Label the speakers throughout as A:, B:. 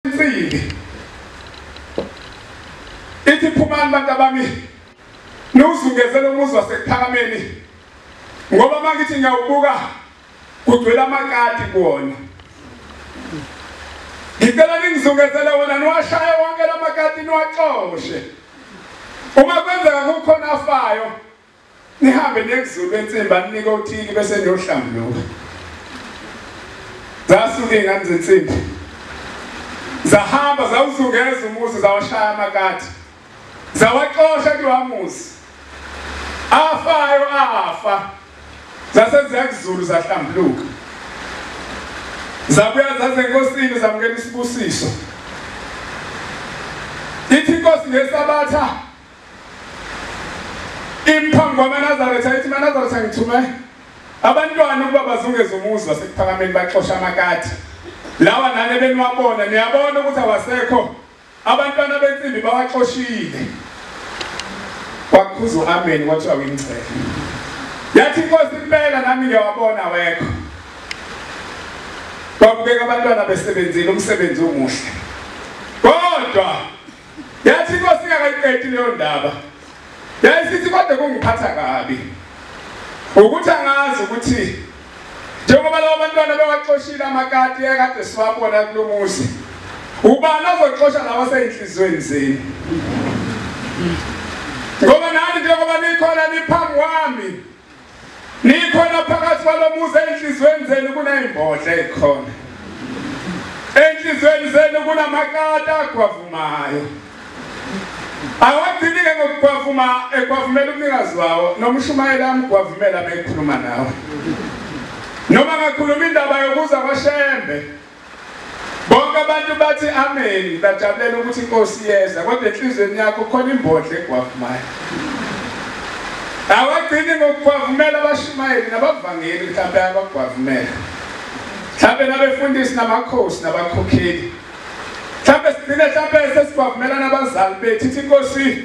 A: insimbi ithi phumani bantu abami niwuzungezele umuzi wasekuphakameni ngoba uma ngithi ngiyawubuka kugcwele amakati kuwona ngicela ningizungezele wona niwashaye wonke la makati niwaxoshe uma kwenzeka kukhona afayo Nihambe niyekuzulu bensimbi aninike othile bese niyohlambuluka. Zasuke ingane zensimbi. Zahamba zawuzungeza umuzi zawashaya amakati. Zawaxosha kuwamuzi. Afayo afa. Zase ziyakuzulu zahlambuluka. Zabuya zaze enkosini zamukela isibusiso. Ithi inkosi ngesabatha Imphambi kwamaNazaretha ayithi maNazaretha ngithume abantwana ukuba bazungeze umuzi wasekuphakameni baxosha amakati lawa nane beniwabona niyabona ukuthi awasekho abantwana bensimbi bawaxoshile kwakhuza u-ameni kwathiwa wingcele yathi inkosi impela nami ngiyawabona wekho babukeka abantwana besebenzile umsebenzi omuhle kodwa Yathi inkosi ingakayiqedi leyo ndaba. Yayisithi kodwa kungiphatha kabi. Ukuthi angazi ukuthi njengoba labo bantwana bewaxoshile amakati ekade siwabona kulo muzi. Ubani ozoxosha lawa seyinhlizweni zenu? Ngoba nani njengoba nikhona niphambi kwami Nikhona phakathi kwalomuzi enhlizweni zenu kunezimbodla ezikhona. Enhlizweni zenu kunamakata agwavumayo. Awagcini ke ngokugwavuma egwavumela umnikazi wawo noma ushumayela amgwavumela bekhuluma nawe. Noma ngakhuluma indaba yokuza kwaShembe Bonke abantu bathi ameni bajabulela ukuthi inkosi iyeza kodwa enhlizweni yakho khona imbodla egwavumayo. Awagcini ngokugwavumela abashumayeli nabavangeli mhlawumbe abagwavumela. Mhlawumbe nabefundisi namakhosi nabakhokheli. Mhlawumbe sigcine mhlawumbe sesigwavumela nabazali bethu ithi inkosi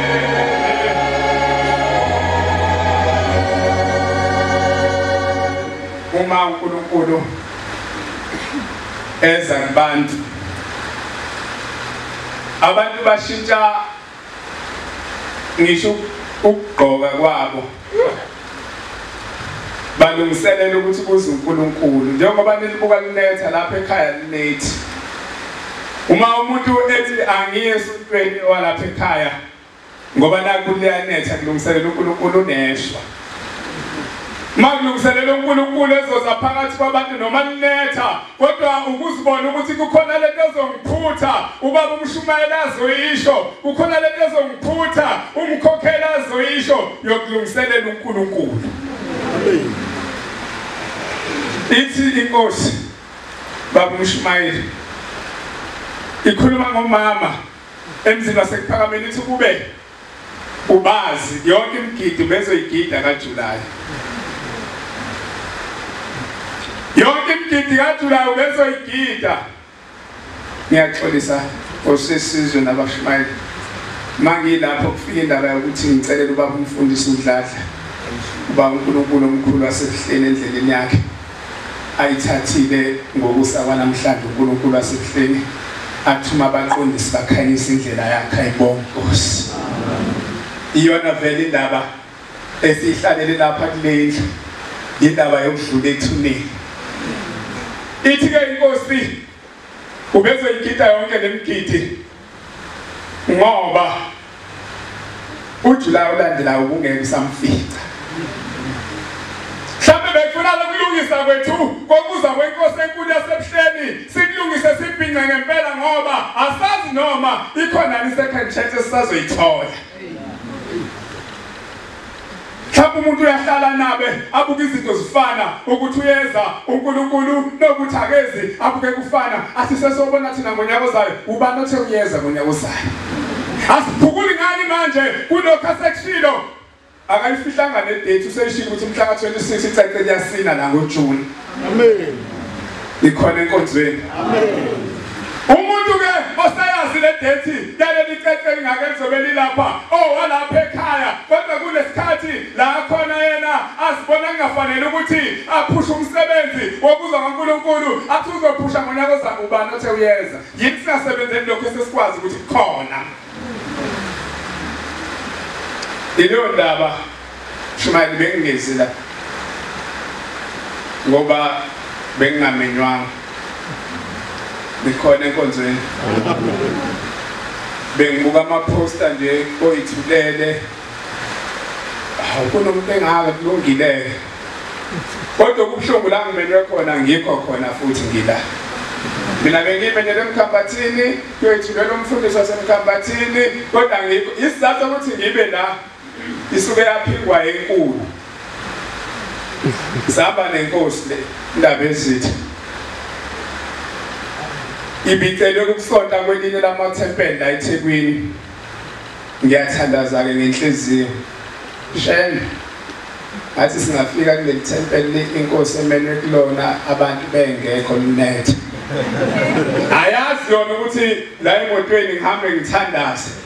A: uma uNkulunkulu eza kubantu abantu bashintsha ngisho ukugqoka kwabo balungiselela ukuthi kuze uNkulunkulu njengoba nilibuka linetha lapha ekhaya linethi uma umuntu ethi angiye esontweni walapha ekhaya ngoba naku liyanetha kulungiselela uNkulunkulu uneshwa makulungiselela uNkulunkulu ezoza phakathi kwabantu noma linetha kodwa ukuzibona ukuthi kukhona lento ezongiphutha ubaba umshumayeli azoyisho kukhona lento ezongiphutha umkhokheli azoyisho yokulungiselela uNkulunkulu ithi inkosi baba umshumayeli ikhuluma ngomama emzini wasekuphakameni ithi kube Ubazi yonke imigidi bezoyigida kaJulayi. Yonke imigidi kaJulayi ubezoyigida. Ngiyaxolisa osesizwe nabashumayeli. Mangilapho kufika indaba yokuthi ngicelela ubaba umfundisi uDladla. Uba uNkulunkulu omkhulu wasebuhleni endleleni yakhe. ayithathile ngokusa kwanamhlanje uNkulunkulu wasekuhleni athuma abaqondisi bakhanyisa indlela yakhe ayibonga Nkosi iyona vele indaba esihlalele lapha kulendlu indaba yokudlula ethuneni ithi ke inkosi ubezoyigida yonke lemgidi ngoba uJulayi olandelayo ubungeke usamfica mhlawumbe bekufuna lokulungisa kwethu kokuza kwenkosi enkulu yasebuhleni sikulungise sibhince ngempela ngoba asazi noma ikhona ni second chance esisazoyithola Mhlawumbe umuntu uyahlala nabe abuke izinto zifana ukuthi uyeza uNkulunkulu nokuthi akezi abuke kufana asisesobona thina ngonyaka ozayo ubani othe uyeza ngonyaka ozayo asiphukuli ngani manje kulokho asekushilo akayifihlanga nedate useyishilo ukuthi mhla ka-26 icace liyasina la ngojuni Amen. Ikhona enkonzweni. Amen. Umuntu ke osayazi le date yaleli cece lingake lizobe lilapha owalapha oh, ekhaya kodwa kunesikhathi la khona yena asibona kungafanele ukuthi aphushe umsebenzi wokuzwa kaNkuluNkulu athi uzophusha ngonyaka ozayo ubani othe uyeza yini singasebenzeli lokho esesikwazi ukuthi kukhona Iliyondaba shumayeli bengingezi la ngoba bengingamenywanga ngikhona enkonzweni bengibuka amaphosta nje oyithulele kunomuntu engaka kulungile kodwa kubuhlungu la ngimelwe khona ngikho khona futhi ngila mina bengimelele emkhambathini kuyoyithulela umfundisi wasemkhambathini kodwa ngikho isizathu ukuthi ngibe la isuke yaphikwa enkulu zaba nenkosi le ndaba ezitha ibicelwe kukusonta kwelinye lamathempeli la ethekwini ngiyathandaza-ke ngenhliziyo shene ngathi singafika kuleli thempeli inkosi emelwe kulona abantu bengekho lunethe ayazi yona ukuthi la emotweni ngihambe ngithandaze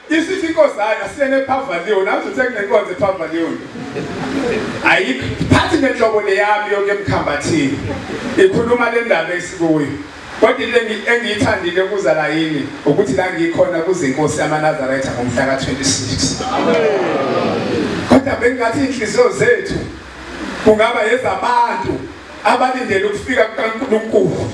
A: Isithi inkosana siyena ePavalion, nathi uthe kunenkonzo ePavalion. Ayikho phathi nenhlobo leyami yonke emkhambathini. Ikhuluma le ndaba esikuyo. Kodwa into engiyithandile kuza la yini ukuthi la ngikhona kuze inkosi yamaNazaretha ngomhla ka-26. Kodwa bengathi inhliziyo zethu kungaba yezabantu abalindele ukufika kukaNkulunkulu.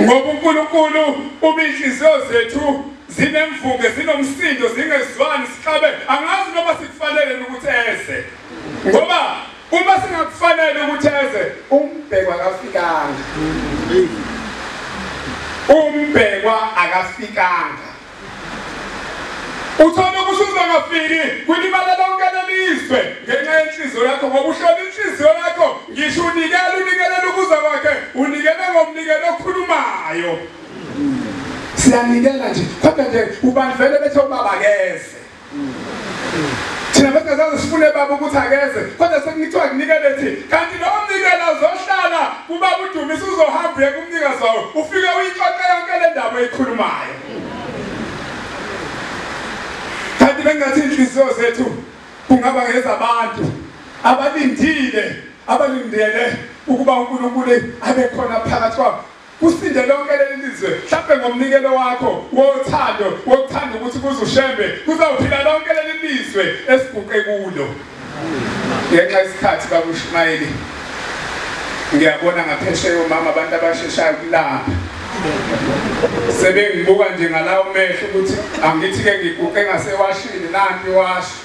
A: Ngoba uNkulunkulu uba inhliziyo zethu Zinemvunge, zinomsindo, zingezwani, sixabe. Angazi noma sikufanele ukuthi eze. Ngoba uma singakufanele ukuthi eze, umbhekwa akafikanga. Umbhekwa akafikanga. Uthole ukuthi uzongafiki kulimala lonke lelizwe ngenxa yenhliziyo yakho ngoba ushona inhliziyo yakho ngisho unikela unikelela ukuza kwakhe unikele ngomnikelo okhulumayo siyanikela nje kodwa nje ubani vele bethe ubaba keze thina besingazazi sifune baba ukuthi akeze kodwa sekuthiwa kunikele thi kanti lowo mnikela uzohlala kubaba udumisa uzohamba uye kumnikazi wawo ufike uyixoxe yonke le ndaba eyikhulumayo kanti bengathi inhliziyo zethu kungaba ngezabantu abalindile abalindele ukuba uNkulunkulu abe khona phakathi kwabo Kusinde lonke leli lizwe hlampe ngomnikelo wakho wothando wokuthanda ukuthi kuze uShembe kuzawuphila lonke leli lizwe esiguqe kulo. Ngenxa yesikhathi baba uShumayeli ngiyabona ngaphesheya omama abantu abasheshayo kulapha sebengibuka nje ngalawo mehlo ukuthi angithi-ke ngiguqe ngasewashini nanti iwashi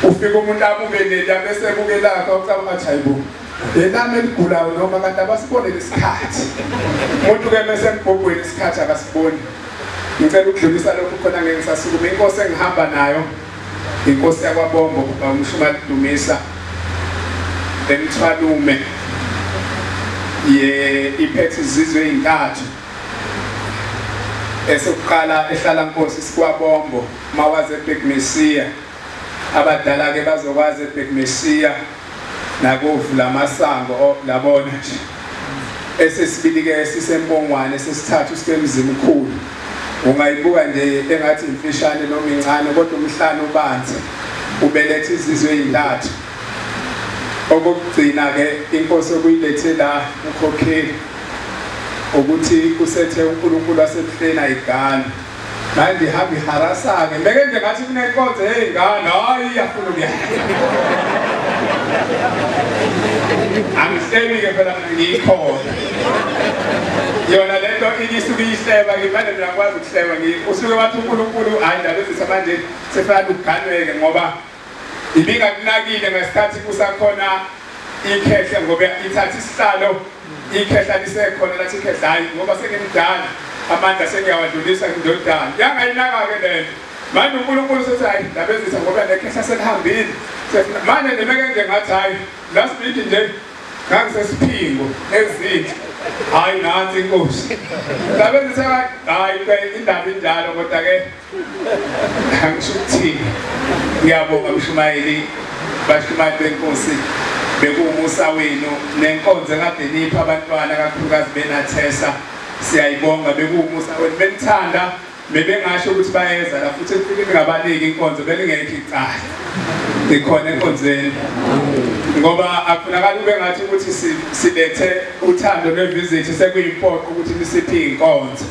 A: ufika umuntu abuke leli abese ebuke lakhe ucabanga ukuthi hayibo yelami eligulayo noma kanti abasibone lesikhathi umuntu ke mese embhobhweni isikhathi akasiboni ngicela ukudlulisa lokhu khona ngeke ngisasukume inkosi engihamba nayo inkosi yakwabombo kuba umshumali dumisa emthwalume ye iphethe izizwe ezintathu esokuqala ehlala nkosi sikwabombo Mawazi ebhekmesiya abadala ke bazokwazi ebhekmesiya nakovu lamasango oh, labona nje esesibili ke sisempongwane sesithathu sikemzimkhulu ungayibuka nje engathi imfishane noma incane kodwa umhlane ubanzi ubelethe izizwe ezintathu okugcina ke inkosi okuyilethe la ukhokheli ukuthi kusethe uNkulunkulu wasebuhleni ayigani Hayi ndihamba iharasake ndeke nje ngathi kunenkonzo yey'ngane hayi iyafuna ukuya angihleli-ke phela ngiyikhona yona le nto isuke iyihleba ngimane mina ngikwazi ukuhleba usuke wathi unkulunkulu hhayi ndabezisa manje sefana ukuganweke ngoba Ibingakunakile ngesikhathi kusakhona ikhehle ngoba ithatha isihlalo ikhehla lisekhona lathi ikhehla hayi ngoba sengimdala amandla sengiyawadlulisa ngindodana yangayinaka-ke lento manje unkulunkulu sethi hayi ndabezisa ngoba nekhehla selihambile manje nimeke nje ngathi hayi last week nje ngangisesiphingo ezinhle hayi nansi inkosi ndabezisa hayi indaba injalo kodwa-ke angisho ukuthini ngiyabonga mshumayeli bashumayeli benkosi bekuwumusa wenu nenkonzo kade nipha abantwana kakhulukazi benathesa siyayibonga bekuwumusa wenu benithanda bebengasho ukuthi bayeza la futhi kufike ngabaniki inkonzo belingekho icala ikhona enkonzweni ngoba akufunakala ube ngathi ukuthi silethe uthando lwevizithi sekuyimpoqo ukuthi nisiphi inkonzo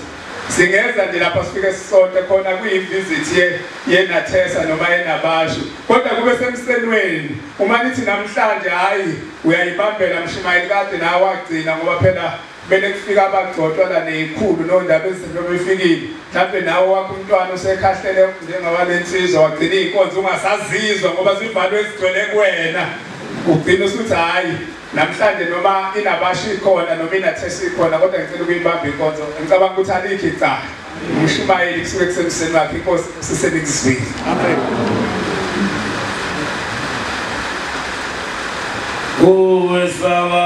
A: Singeza nje lapha sifike sisonte khona kuyivisit ye yenathesa noma yenabashu kodwa kube semsenweni uma nithi namhlanje hayi uyayibambela mshumayeli kade nawe wagcina ngoba phela kumele kufika abagcotshwa la neyikhulu nondaba ezinto befikile mhlawumbe nawe wakho umntwana usekhahlele njengawale nsizwa wagcina iy'nkonzo ungasazizwa ngoba zivalwe ezigcwele kuwena ugcina usuthi hhayi Namhlanje noma inabashi ikhona noma inathesi ikhona kodwa ngicela ukuyibamba inkonzo ngicabanga ukuthi alikho icala umshumayeli kusuke kusemseni wakhe inkosi
B: sisenikuzwile amen kuwe saba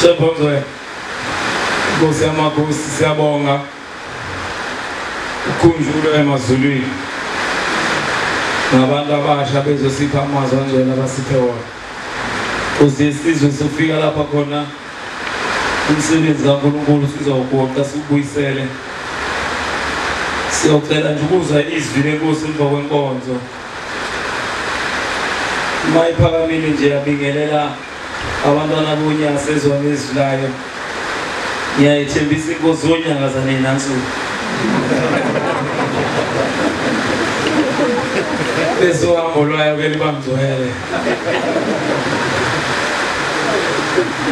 B: Shebhongcwe Nkosi yamakhosi siyabonga ukhunjulwe emazulwini ngabantu abasha bezosipha amazwi anjena abasiphe wona kuze isizwe sofika lapha khona umsebenzi kaNkulunkulu sizowugoqa siwubuyisele siyocela nje ukuzwa izwi lenkosi emva kwenkonzo uma iphakamile nje yabingelela abantwana bonya sezwa ngezwi layo ngiyayithembisa inkosi yonyanga zanina nsuku besohambo lwayo ke liba mngcwele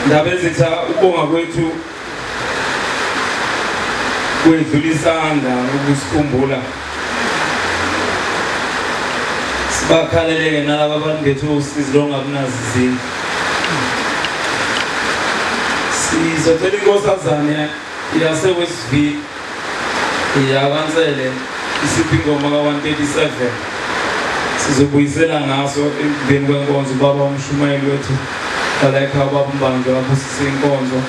B: ndaba ezitha ukubonga kwethu kwedlula isandla ukusikhumbula sibakhaleleke nalaba bantu bethu usizi longakunazi izindlu sizocela inkosazane yasewestville ya kansele isiphi ingoma ka-137 sizobuyisela ngaso emveni kwenkonzo ubaba umshumayeli wethu balayikhaya ubaba umbanjwa abusise inkonzo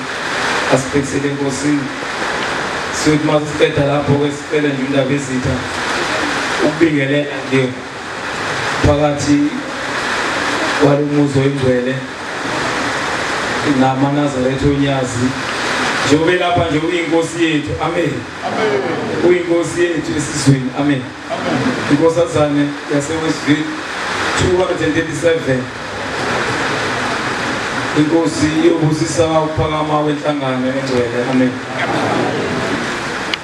B: asibhekisele enkosini siyothi uma sisiqeda lapho-ke sicele nje undaba ezitha ukubingelela nje phakathi kwalo muzi oyingcwele namanazaretha onyazi njengoba elapha nje uyinkosi yethu amen uyinkosi yethu esizweni amen inkosazane yasewestville 237 inkosi yobusisa ukuphakama kwenhlangano engcwele amen